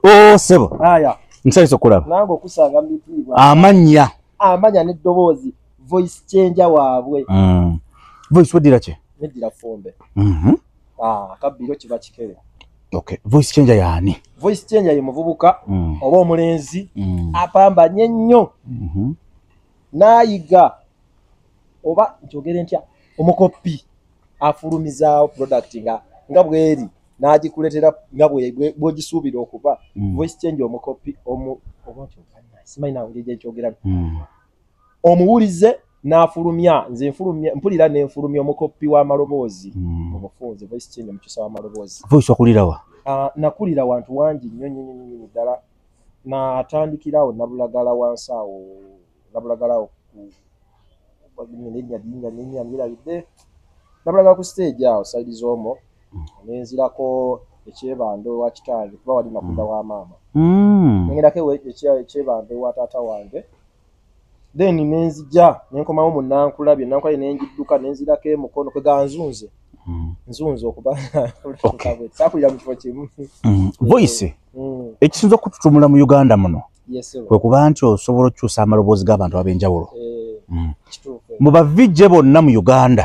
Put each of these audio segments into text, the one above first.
Oh, sebo aya nsabisa okulaba nange okusanga mubitiibwa amannya amanya neddoboozi voice changer waabwe mm. voice weddira ki neddira fumbe mm -hmm. ah, akabbiro kiba kikere okay. voice changer yaani voice changer ye muvubuka mm. oba omulenzi mm. apambanye ennyo mm -hmm. n'ayiga oba nkyogere ntya omukoppi afulumizaawo product nga nga bweri n'agikuleetera nga bwogisuubira okuba mm. voice change omukoppi omu oba kyogera simanyi nawe ngeri gyenkyogeramu mm. omuwulize n'afulumya nze mpulira ne nfulumya omukoppi w'amaloboozi hmm. mu bufunze voice change omukyusa w'amaloboozi voice wakulira wa ah, nakulira wantu wangi nnyo nnyo nnyo nnyo ddala natandikirawo nabulagala wansi awo nabulagalawo nabulagala ku stage awo saidi z'omo nenzirako ekyebando wa kitange kuba wali makunda mm. wa maama mm. nengerako ekyebando ewa taata wange then nenzija nenkomawo mu nankulabye nankulabye nenjidduka nenzirako emukono kweganzunze mm. nzunze okubasakulira mu kifo kimu voice ekisinza okututumula mu uganda muno kwekuba nti osobola okukyusa amaloboozi g'abantu ab'enjawulo eh, mu bavijje bonna mu uganda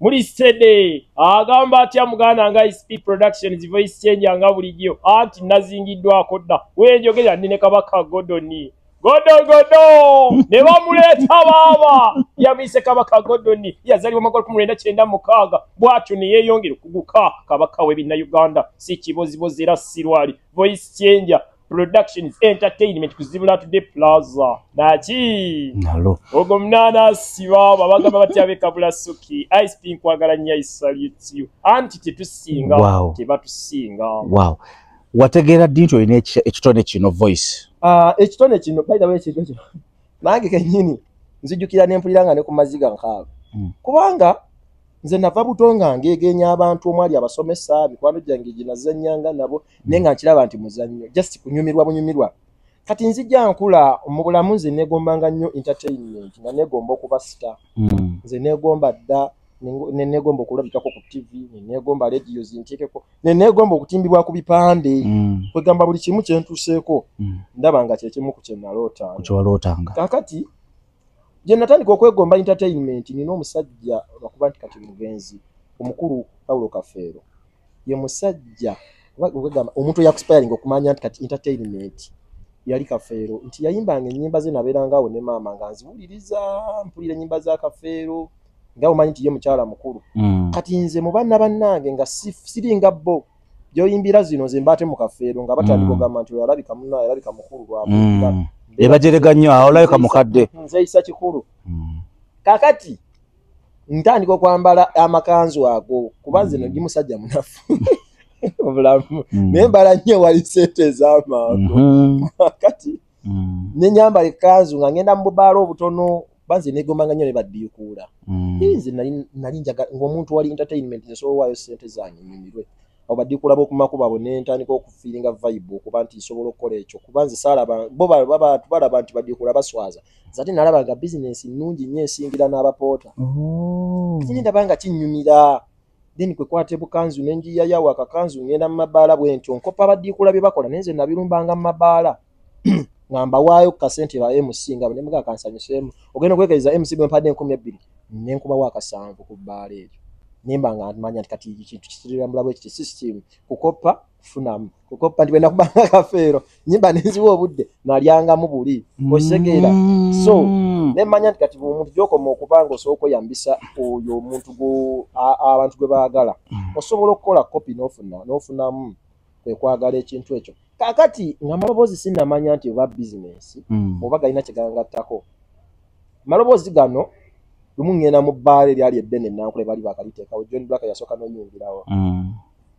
muli sede agamba atya muganda nga isp productions voice change nga bulijjo anti nazingiddwako dda wenjogera ndi ne kabaka godoni godogodo ne bamuleeta baaba yamuyise kabaka godoni yazalibwa magolo kumulenda kyenda mukaaga bwatyo ne yeeyongera okuguka kabaka we binnauganda si kibozibozi era sirwali voice changer productions entertainment kuzibula today plaza naki nalo ogo mnana siba babagamba bati abeka bula suki i speak kwagala nya salute you anti tetusinga wow. tebatusinga wow wategera dinto ine ekitone kino voice ah uh, ekitone kino by the way ekitone kino nange kenyini nzijukira ne mpulira nga ne kumaziga nkaaba mm. kubanga nze nava buto nga ngeegeenya abantu omwali abasomesa mikwano gyange gye nazannyanga nabo naye nga nkiraba nti muzannyo just kunyumirwa bunyumirwa kati nzija nkula mu bulamu nze neegombanga nnyo entertainment nga neegomba okuba sita hmm. nze neegomba dda neneegomba okulabikako ku tv neneegomba radio zinteekeko neneegomba okutimbibwa ku bipande hmm. kwegamba buli kimu kyentuuseeko hmm. ndaba nga kyekimu ku kyenalootanga kakati gye natandika okwegomba entertainment nina omusajja lwakuba nti kati mugenzi omukulu paulo kafeero ye musajja ogamba omuntu eyakusipayalinga okumanya nti kati entertainment yali kafeero nti yayimbanga ennyimba ze nabeeranga awo ne maama nga nziwuliriza mpulira ennyimba za kafeero nga omanyi nti ye mukyala mukulu mm. kati nze mu baana bannange nga siringa bo gyoyimbira zino nze mbaate mu kafeero nga batandika mm. ogamba nti alabika muna alabika mukulu lwamuga mm. ebajerega nnyo olabika mukadde nzeyisa kikulu mm. kakati ntandika okwambala amakanzu ago kuba nze no ndi musajja munafu obulamu naye mbala nnyo wali sente ez'amangu mm-hmm. kakati mm -hmm. mm. nenyambala ekanzu nga ngenda mu bubaala obutono banze negombanga nyo nebaddiikuula mm. nze nali njaga ngaomuntu wali entertainment nsobowaayo sente zange nyimirwe abo baddiikuula bokumakuba abo nentandika okufiiringa vibe okuba nti nsobola okukola ekyo kuba nze saalaba bo babantu balaba nti baddiikuula baswaza zate nalaba nga bizinensi nnungi nyo ensingira n'abapoota oh. zini ndaba nga kinyumira then kwe kwate bukanzu ne njiya yawo akakanzu ngenda mu mabaala bwentyo nkopa abadiikula bye bakola naye nze nabirumbanga mu mabaala nga mbawaayo ku kasente ba mc nga ne mga kansanyuseemu ogenda okwekaliza mc bwe mpadde enkumi ebbiri ne nkubawo akasanvu ku bbaala eryo nimba nga manya nti kati kintu kisirirambula bwekiti system kukoppa kufunamu kukoppa nti bwenakubanga kafeero nyimba nenziwa obudde nalyangamu buli mm. okitegeera so nemanya nti kati omuntu gyokoma okubanga osobola okweyambisa oyo omuntu abantu gwe baagala mm. osobola okukola kopi nofuna nofunamu kwekwagala ekintu ekyo kakati nga maloboozi sinamanya nti oba bizinesi mm. oba galina kyegangattako maloboozi gano lumu ŋŋenda mu bbaala eryali eddene nankule bali bakaliteekawo john black yasooka noyingirawo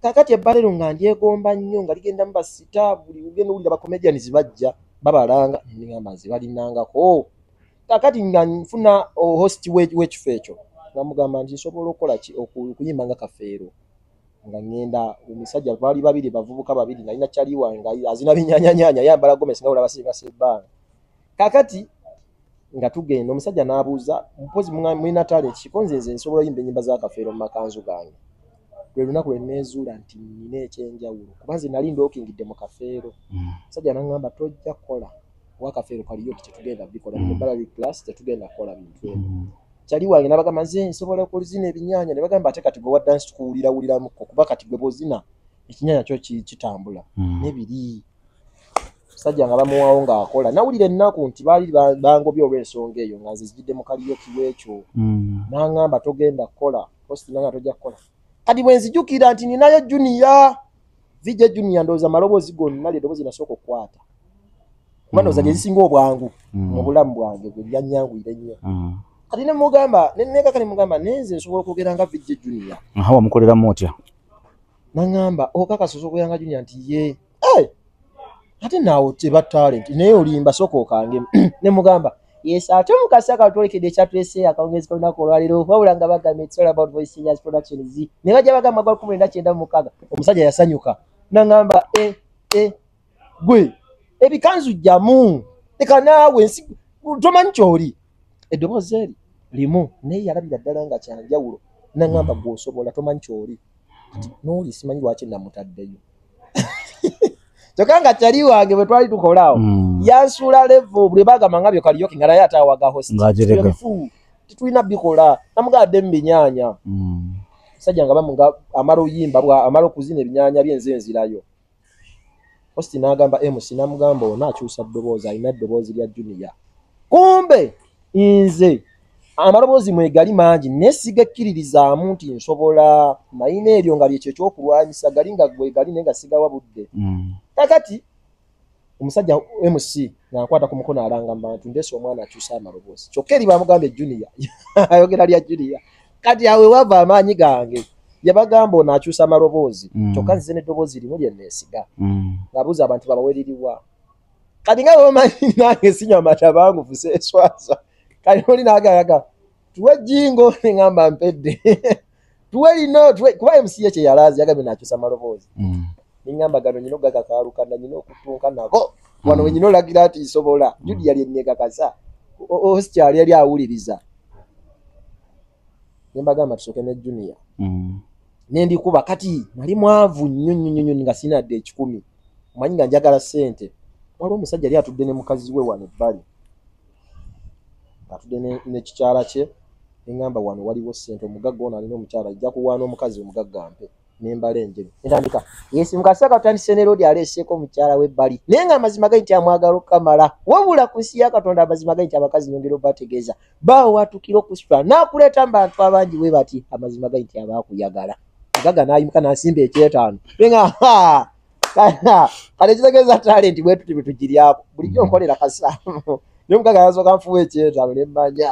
kakati ebbala eno nga ndyegomba nnyo nga ligendamu basita buli ugenda owulira bacomedians bajja babalanga nengamba nze balinangako kakati nga nfuna host wekifo ekyo nga mugamba nti nsobola okukola ki okuyimba nga kafeero nga ngenda omusajja baali babiri bavubuka babiri nalina kyali wange azina binyanyanyanya yambala gomesi nga olaba singa sebaana kakati nga tugenda omusajja n'abuuza mpozi mulina talent kiko nze nze nsobola oyimba ennyimba z'akafeero mu makanzu gange lwe lunaku lwe neezuula nti nina ekyenjawulo kuba nze nali ndookingidde mu kafeero hmm. omusajja n'aŋŋamba tojja kukola kuba akafeero kaliyo ti tetugenda bikola hmm. ebbala li class tetugenda kukola bintu ebyo hmm. kyali wange nabagamba nze nsobola okulizina ebinyaanya ne bagamba ate kati gwe wa dansi tukuwulirawuliramuko kuba kati gwe bwozina ekinyanya kyo kitambula hmm. nebiri musajja nga bamuwawo ng'akola nawulira ennaku nti baali bangobye olw'ensonga eyo nga nze zijidde mu kaliyo kiw'ekyo mm. n'aŋŋamba togenda kukola kositinanga tojja kukola kati bwe nzijukira nti ninayo juniya zijja juniya ndowooza maloboozi gonna lye doboozi nasooka okukwata kuba ndowooza lye mm. zisinga obwangu mm. mu bulamu bwange gwe lyanyanguyira ennyo kati ne mugamba nenekaka ne mugamba nenze nsobola okwogera nga vijja juniya wamukoleramu otya nangamba okakasa osobola kuyanga junya nti ye ate naawo teba talent naye olimba soka okange ne mugamba yes ate mukasa akatwolekede ekyatulese akawungezi kolunaku olwalero wabula nga bagamba it's all about voice singers production z ne bajja bagamba gwa kumulenda kyenda mukaga omusajja yasanyuka nangamba e e gwe ebikanzu jjamu leka naawe ensi tomanyi kyoli eddoboozi eri limu naye yalabira ddala nga kyanjawulo naŋamba mm. gwosobola tomanyi kyoli kati nooli simanyi lwaki namutaddeyo kyokka nga kyali wange bwe twali tukolaawo mm. yansuula levo buli bagamba nga byokaliyoki nga naye ate awaga hosbifu tetulina bikola namugaadde mu binyaanya mm. musajja nga bamuga amala oyimba amala okuzina ebinyanya byenze enzirayo Austin n'agamba MC n'amugamba ono akyusa ddoboozi alina ddoboozi lya junior kumbe nze amaloboozi mwegali mangi naye sigakkiririzaamu nti nsobola mayina eryo nga lyekyo ekyokulwanyisa gali nga gwegali naye nga sigawa budde mm. kakati omusajja mc nankwata ku mukono alanga mu bantu ndeesa omwana akyusa amaloboozi kyokka eri bamugambye junior ayogera lya junior kati awe wava amaanyi gange yabagamba ono akyusa amaloboozi mm. kyokka nzize neddoboozi limu lyenneesiga mm. ngaabuuza abantu babaweliriwa kati nga bamanyi nange sinywa matabangufu seswaza kati oli nagaaga tuwe jingo neŋamba mpedde tuwe lino kuba mca kyeyalaazi yagambye nakyusa amaloboozi mm. neŋamba gano nyina ogakakaalukana nyina okutunka nago wano wenyina olagira nti nsobola judi yali enegakasa osikyali yali awuliriza nembagamba tusoke ne junia mm. nendikuba kati nali mwavu nnyo nnyo nnyo nga sinadde ekikumi omanyi nga njagala sente waliwo omusajja yali atudde ne mukazi we wano ebbali atudde nekikyala kye neŋamba wano waliwo sente omugagga ono alina omukyala ajja kuwaana omukazi omugagga mpe nembala enjeru entandika yes mukasaka tutandise ne lodi aleeseeko omukyala webbali naye nga amazima gai nti amwagala okukamala wabula ku nsi ya katonda amazima gai nti abakazi nyongera obategeeza baawo watukira okusitula n'akuleeta mu bantu abangi we bati amazima gai nti abaakuyagala agaga n'ayimuka n'asimba ekyetaano nga kale kitegeeza talenti bwetuti bwe tugiryako bulijjo nkolera kasaamu naye omugaga yasoka nfuwa ekyetaano ne mmanya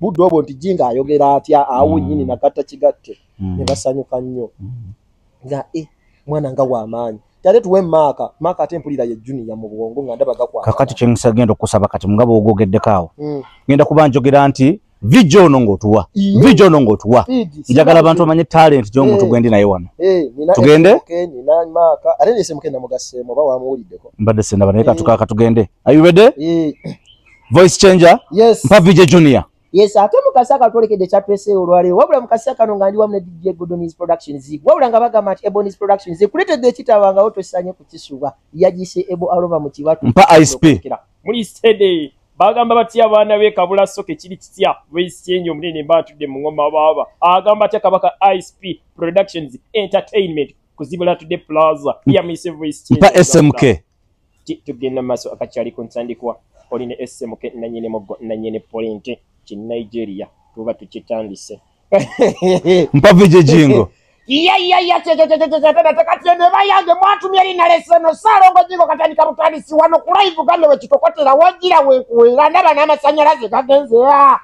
budde obwo nti jinga ayogera atya awo mm. nyini nagatta kigatte mm. ne basanyuka nnyo mm. nga e mwana nga wamaanyi tale tuwe maaka maaka ate mpulira ye juniya mu bwongo nga ndaba gakwa kakati kyengisa genda okusaba kati mugabo ogogeddeko awo mm. ngenda kuba njogera nti vijo ono ng'otuwa vijo ono ng'otuwa njagala abantu bamanye talenti gy'omuntu eh. gwe ndi naye wano eh, tugende mbadde sendaba naye katukaaka tugende ayubede voice changer yes. mpa vije junior yes ate mukasa akatwolekedde ekyatwese olwaleero wabula mukasa kano nga ndi wamu ne dj godonis productions wabula nga bagamba nti ebonis productions ekuleetedde ekitabangawo tosanye kukisuba yagise ebo alova mu kibatu mpa isp muli stede bagamba batya abaana be kabula soke kiri kitya voice change omunene mba atudde mu ngoma baaba agamba atya kabaka isp productions entertainment kuzibula tudde plaza yamuyise voice change mpa smk Kati tugenda mu maaso akakyali ku ntandikwa oli ne SMK nanyini muggo nanyini polinte ki Nigeria tuba tukitandise mpave gye jingo yayaya kyekyekyekyekyetetekatye ne bayange mwatumye linaleseno salongo jingo katandika butandisi wano kulaivu gano wekitokotera wajira wekuwera ndaba n'amasanyalaze gagenze ah.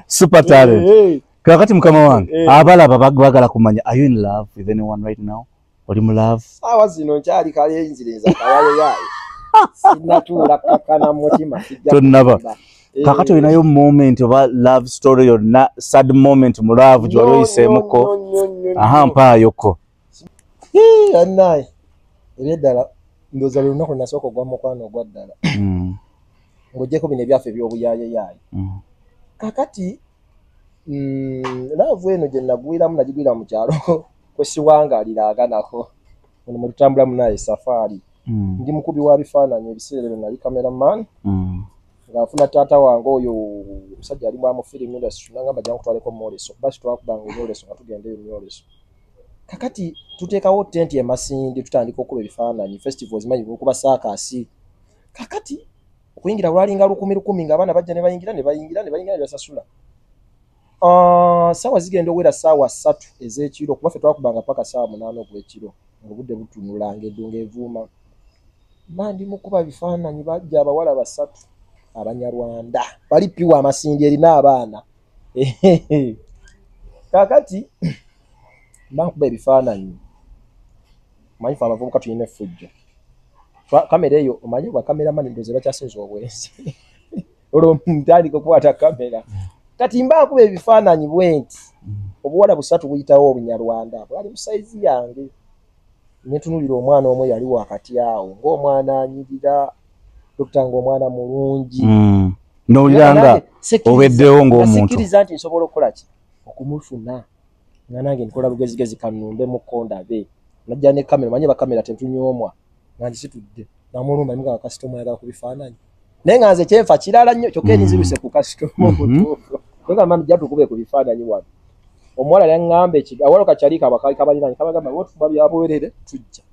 super talent kakati mukama wange eh, eh. abalaba bagala kumanya are you in love with anyone right now oli mu love saawa zino nkyali kaleyinzirenza kayayeyaayo sinatuula kakana mu mutima tonnaba eh. kakati olinayo moment oba love story yonna sad moment mu love gyewali oyiseemuko aha mpaayoko annaye era eddala ndoza lwe lunaku nasooka ogwa mukwano ogwa ddala hmm. ng'ogyeko bino ebyaffe ebyobuyayeyaayo hmm. kakati mm, laavu eno gye nagwiramu nagigwira mu kyalo kwesiwangalira aganako ono mwetutambula munaye safaari mm. ndi mukubi wa bifaananyi ebiseera ebyo nali cameraman mm. nga nfuna taata wange oyo omusajja ali mwamu film industry nangamba jankutwaleko mumwoleso kuba sitwakubanga emyoleso nga tugenda eyo myoleso kakati tuteekawo tenti emasindi tutandika okuba ebifaananyi festivals manyi okuba saakasi kakati okuyingira lwalinga lukumi lukumi ngaabaana bajja ne bayingira ne bayingira ne bayingira ne basasula Ah, saawa zigenda owera saawa ssatu ez'ekiro kuba ffe twakubanga paka saawa munaana ogw'ekiro ngaobudde butunula ngaeddu ngaevuuma bandi mukuba bifaananyi bajja abawala basatu abanyarwanda bali piwa amasindi erina abaana kakati bankuba ebifaananyi manyi fe abavubuka tulina effujjo kamera eyo omanyi bwakameramani ndoze bakyasinza obwenzi olwo ntandika okukwata kamera kati mbaakuba ebifaananyi bwenti obuwala busatu buyitawo obunyarwanda bwali musaizi yange netunulira omwana omu yali wakati awo ngaomwana anyirira dokita ngaomwana mulungi mm. nowuliranga obeddewo ngaomuntusikiriza nti nsobola okukolaki okumufuna nga nange nkola lugezigezi kanumbe mukondabe najja ne kamera manye bakamera tentunyomwa nange situdde namulumba imuga bakasitoma yagala ku bifaananyi naye nga nze kyenfa kirala nnyo kyokka erinziruse ku kasitoma mhm. omutuufu kyoka mami jja tukube ku bifaananyi wano omuwala yaŋŋamba ekiga awalo kakyali kabakali kabaliranye kabagamba wotuba byabuwerere tujja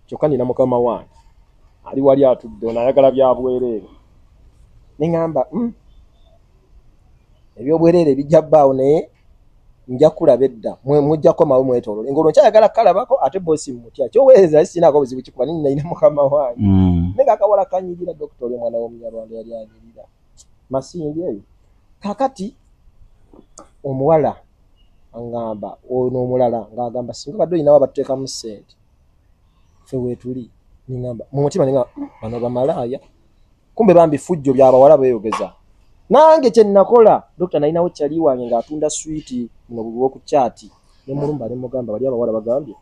kyokka nina mukama wange ali wali atudde onayagala byabuwereere neŋŋamba hmm, ebyobwereere bijja bbaawo naye nja kulaba edda mujja komawo mwetolole nga olwo nkyayagala kalabako ate bosi mutya kyoweereza sikinako obuzibu kikuba nini nalina mukama wange mm. naye kakawala kanyirira dokita oli omwana womunyarwanda yali anyirira masindi eyo kakati omuwala angamba ono omulala ngaagamba singa badde olinawo abatuteekamu sente fe weetuli ningamba mu mutima ninga bano bamalaaya kumbe bambi fujjo bya bawala beyogeza nange kye nakola dokita nalinawo kyali wange ng'atunda switi muno buli woku kyati ne mulumba ne mugamba bali abawala bagambye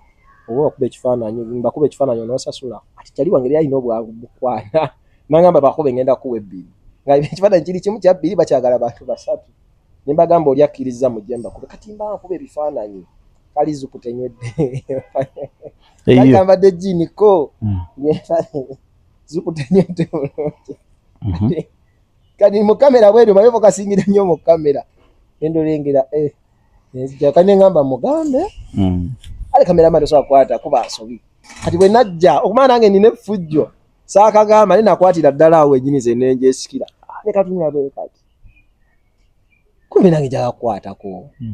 oba bakuba ekifaananyi bakuba ekifaananyi onosasula ati kyali wange lyalina obwangu bukwana nangamba bakube ngenda kuwa ebbiri nga ekifaananyi kiri kimu kya bbiri bakyagala bantu basatu ne mbagamba oli akkiriza mujje mbakube kati mba nkuba ebifaananyi kali zukutenywedde kali kambadde jiini ko hmm. zikutanye ate bulungi mhm. kati mukamera bweri mabevo kasingira nnyo mukamera endolengera eh, nzija kane ngamba mugambe mm. ale kamera mani osobola kukwata kuba nsobi kati bwe najja okumana nange nina efujjo saakagamba naye nakwatira ddala awo enyini ze nenjesikira ah, ne katunula bwe kati kumbe nange njaga kukwatako mm.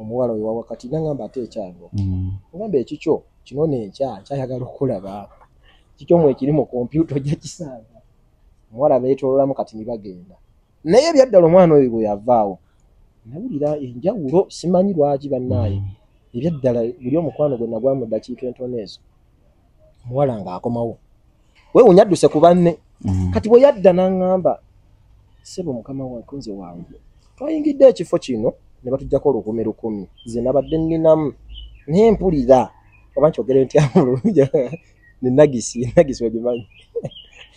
omuwala oyo wawakati nangamba ate ekyange mm. ogamba ekikyo kino nenkya nkyayagala okulaba kikyo mu ekiri mu kompyuta ojja kisanga omuwala betololamu kati nibagenda naye ebyaddala omwana oyo bweyavaawo nawulira enjawulo simanyi lwaki bannaaye mm. ebyaddala buli omukwano gwe nagwamu ddakiika entono ezo omuwala ng'akomawo wewunya adduse ku banne mm. kati bwe yadda n'aŋŋamba sebo mukama wange nze wange twayingidde ekifo kino ne batuggyako olukumi lukumi nze nabadde nninamu naye mpulira oba nkyogere ntya mulungi nenagisi enagisi ogimanyi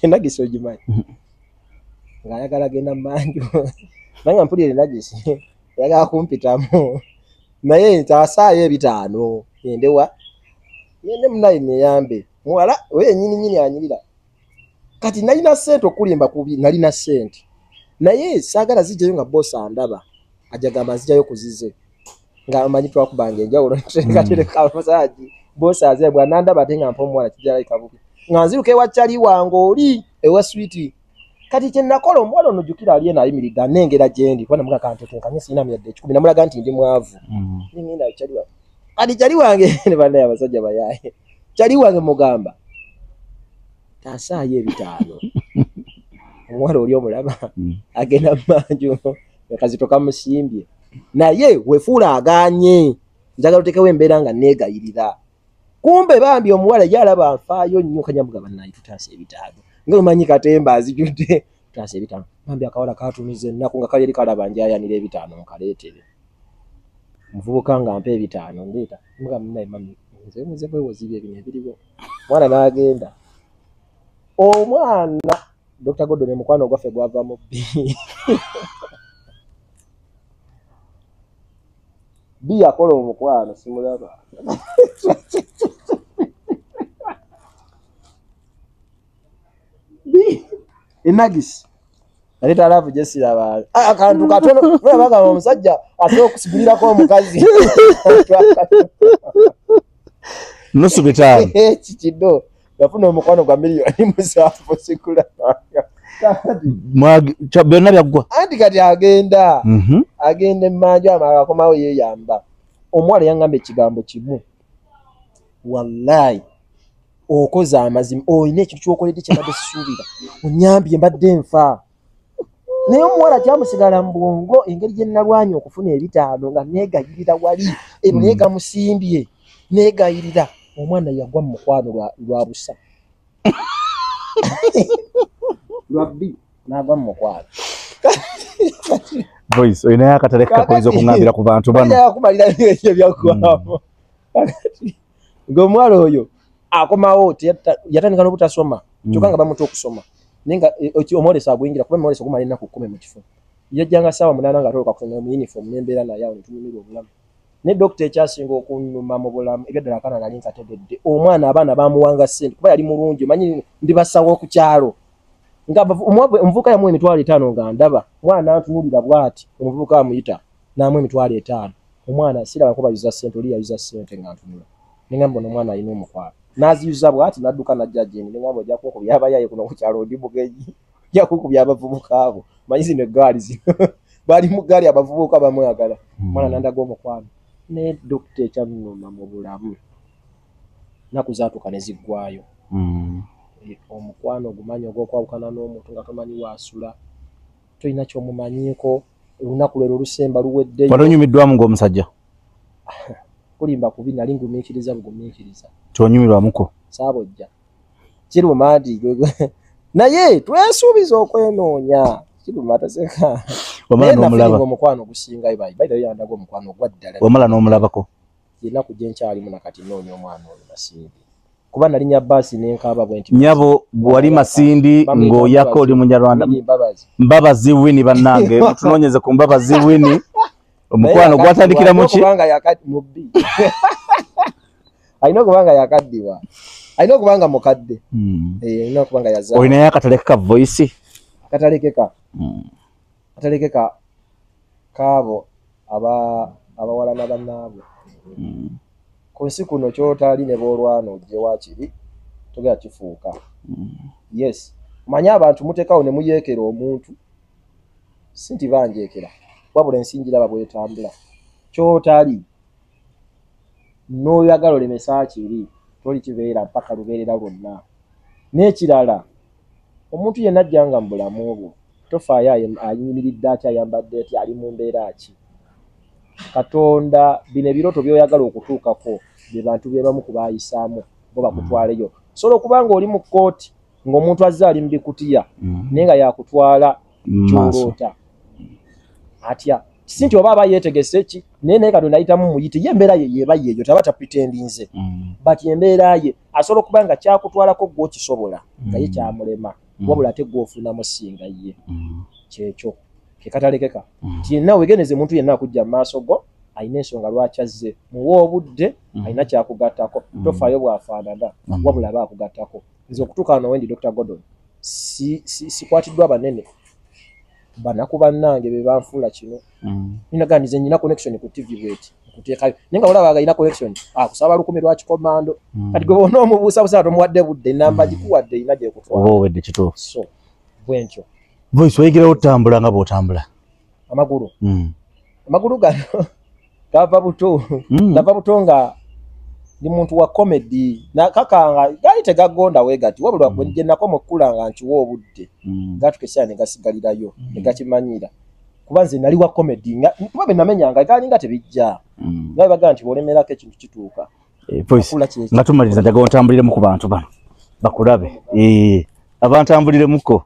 enagisi ogimanyi ng'ayagala genda manju naye nga mpulira enagisi ayagala kumpitamu naye ntasaayo ebitaano endewa nende munaye neyambe muwala oyo yenyini nyini anyirira kati nalina sente okulimba kubi nalina sente naye saagala zijjayo nga bosi andaba ajagamba nzijayo kuzize nga amanyi twakubanga enjawulo nteekaterekamasagi mm. bosi aze bwanandaba ate nga mpa omuwala kijalaikabubi nga nziruka ewa cali wange oli ewa switi kati kye nakola omuwala ono jukira ali eno ayimiridde anengera gyendi kuba namuga kantetenkanye sirina myadde ekikumi namulaga nti ndi mwavu mm. nengenda kyali wange kati kyali wange ne banaye abasajja bayaye kyali wange mugamba tasaayo ebitaano omuwala oli omulaba mm. agenda mumanju akazito kamusimbye naye wefuula aganye njagala otekewo embeera nga negayirira kumbe bambi omuwala yalaba afaayo nnyo kanyamuga bannange tutaasa ebitaago nga omanyi katemba azijudde tutaasa ebitaano bambi akawala katumiza ennaku nga kali eri kalaba njayanira ebitaano nkaleetere muvubuka nga mpa ebitaano ndeeta muga munaye mami nze muze bwewozibye ebino ebiriwo omwana n'agenda omwana dr godone mukwano ogwaffe gwava mubbi bi yakola omukwano simulaba enagisi nali talavu gyesiraba akantu ah, katono olabagamba omusajja asobola okusigulirako omukazi nusu bitaano ekikido eh, yafuna omukwano gwa miliyoni musanvu sikula byonna byaggwa anti kati agenda mhm. agenda emmanju amala akomawo yeyamba omuwala yangamba ekigambo kimu wallayi okoze amazima olina ekintu kyokoledde kyebadde sisuubira onyambye mbadde nfaa naye omuwala kyamusigala mu bwongo engeri gye nnalwanya okufuna ebitaano nga neegayirira wali eno naye gamusimbye neegayirira omwana yagwa mu mukwano lwa busa lwabbi n'agwa mu mukwano voice oyo naye akatale kakoyinza okuŋambira ku bantu banokumalira ebyo byaggwamu ng'omuwala oyo akomawo yatandika n'obutasoma mm. kyokka nga bamuta okusoma naye nga e, omwoleso aguyingira kuba emwoleso gumala ennaku kkumi mu kifo yajjanga saawa munaana nga atoloka kufuna mu yunifoomu n'embeera naye awo netunyumirwa obulamu naye dokita ekyasinga okunuma mu bulamu ebyaddala akaana nali nkategedde omwana abaana bamuwanga ssente kuba yali mulungi manyi ndi basawo ku kyalo nga omuvubuka yamuwa emitwalo etaano nga ndaba mwana ntunulira bwati omuvubuka amuyita naamu emitwalo etaano omwana sirabako bayuza ssente oli yayuza ssente nga ntunula ne ŋamba ono omwana alina omukwalo n'aziyuza bwati n'adduka n'ajja gyendi ne ŋamba ojja kunkubya abayaye kuno ku kyalo ndi mugenyi ojja kunkubya abavubuka abo manyi zino eggaali zino bali mu ggaali abavubuka bamwagala hmm. omwana nandaga omukwano naye dokita ekyannuma mu bulamu naku zaatuuka ne ziggwayo hmm. omukwano ogumanyi ogw'okwawukana n'omuntu nga tomanyi waasula tolina kyomumanyiiko olunaku lwero olusemba luweddeyo wali onyumiddwamu ng'omusajja kulimba kubi nali ngumiikiriza bugumiikiriza tiwanyumirwamuko saabojja kiruma nti naye twesuubiza okwenoonya kiruma taseka omala n'omulaba omukwano gusingayo bayi bayi yandaga omukwano gwaddala omala n'omulabako yenaku gyenkyalimu nakati noonya omwana oyo masindi kuba nalinya baasi nenkaaba bwenti nyabo bwali masindi ng'oyako oli munyarwanda mbabazi wini bannange mutunoonyeze ku mbabazi wini omukwano gwatandikira muki alina okubanga yakaddiwa alina okubanga mukadde hmm. eh, olina okubanga yaza olinayo akatalekeka voice akatalekeka hmm. atalekeka kaabo aba abawalana bannaabwe mm. ku nsi kuno kyotaali ne boolwana ojje waakiri togera kifuuka mm. yes manye abantu muteekawo ne muyeekera omuntu si nti banjeekera wabula ensi njiraba bwetambula kyotaali n'oyagala olemesa kiri tolikibeera mpaka lubeerera lwonna n'ekirala omuntu yenna ajjanga mu bulamu obwo tofaayo ayimiridde atya ayambadde atya ali mu mbeera ki katonda bino ebirooto byoyagala okutuukako be bantu bebamu kubayisaamu bo bakutwaleyo mm. sobola okuba nga oli mu kkooti ng'omuntu azze ali mu bikutiya mm. naye nga yakutwala kyoloota atya si nti oba aba yeetegese ki naye naye katonda ayitamu muyite ye embeera ye yeeba yeeyo taba tapitendinze mm. but embeera ye asobola okuba nga kyakutwalako gwokisobola nga ye mm. kyamulema mm. wabula ate gwofuna musinga ye kyekyo kekatalekeka tiyenna wegeneze muntu yenna akujja mu maaso go alina ensonga lwaki azze muwa obudde alina kyakugattako tofaayo bwafaanana wabula aba akugattako nze okutuuka wano wendi dr gordon sikwatiddwa banene banaku bannange be banfuula kino mm. ninagandize nyina connection ku tv bweti nkuteekayo naye nga olaba agalina connection akusaba ah, lukumi lwa kikomando mm. kati gwe bona omubuusabusa tomuwadde budde namba mm. gikuwadde erina gyekutwala oba owedde kituufu so bwentyo voice oyigirawo otambula nga bwotambula amagulu amagulu gano gava buto hmm. gava buto nga ndi muntu wa comedy nakakanga gali tegagonda wegati wabula mm. bwenje nako mukula nga nkiwa obudde mm. gatu kesya ne gasigalirayo mm. ne gakimanyira kuba nze nali wa comedy nga kuba be namenya nga gali nga tebijja mm. naye baga nti bolemera ke kintu kituuka eh, voice nga tumaliza ndaga ontambulire mu kubantu bano bakulabe eh abantu ambulire muko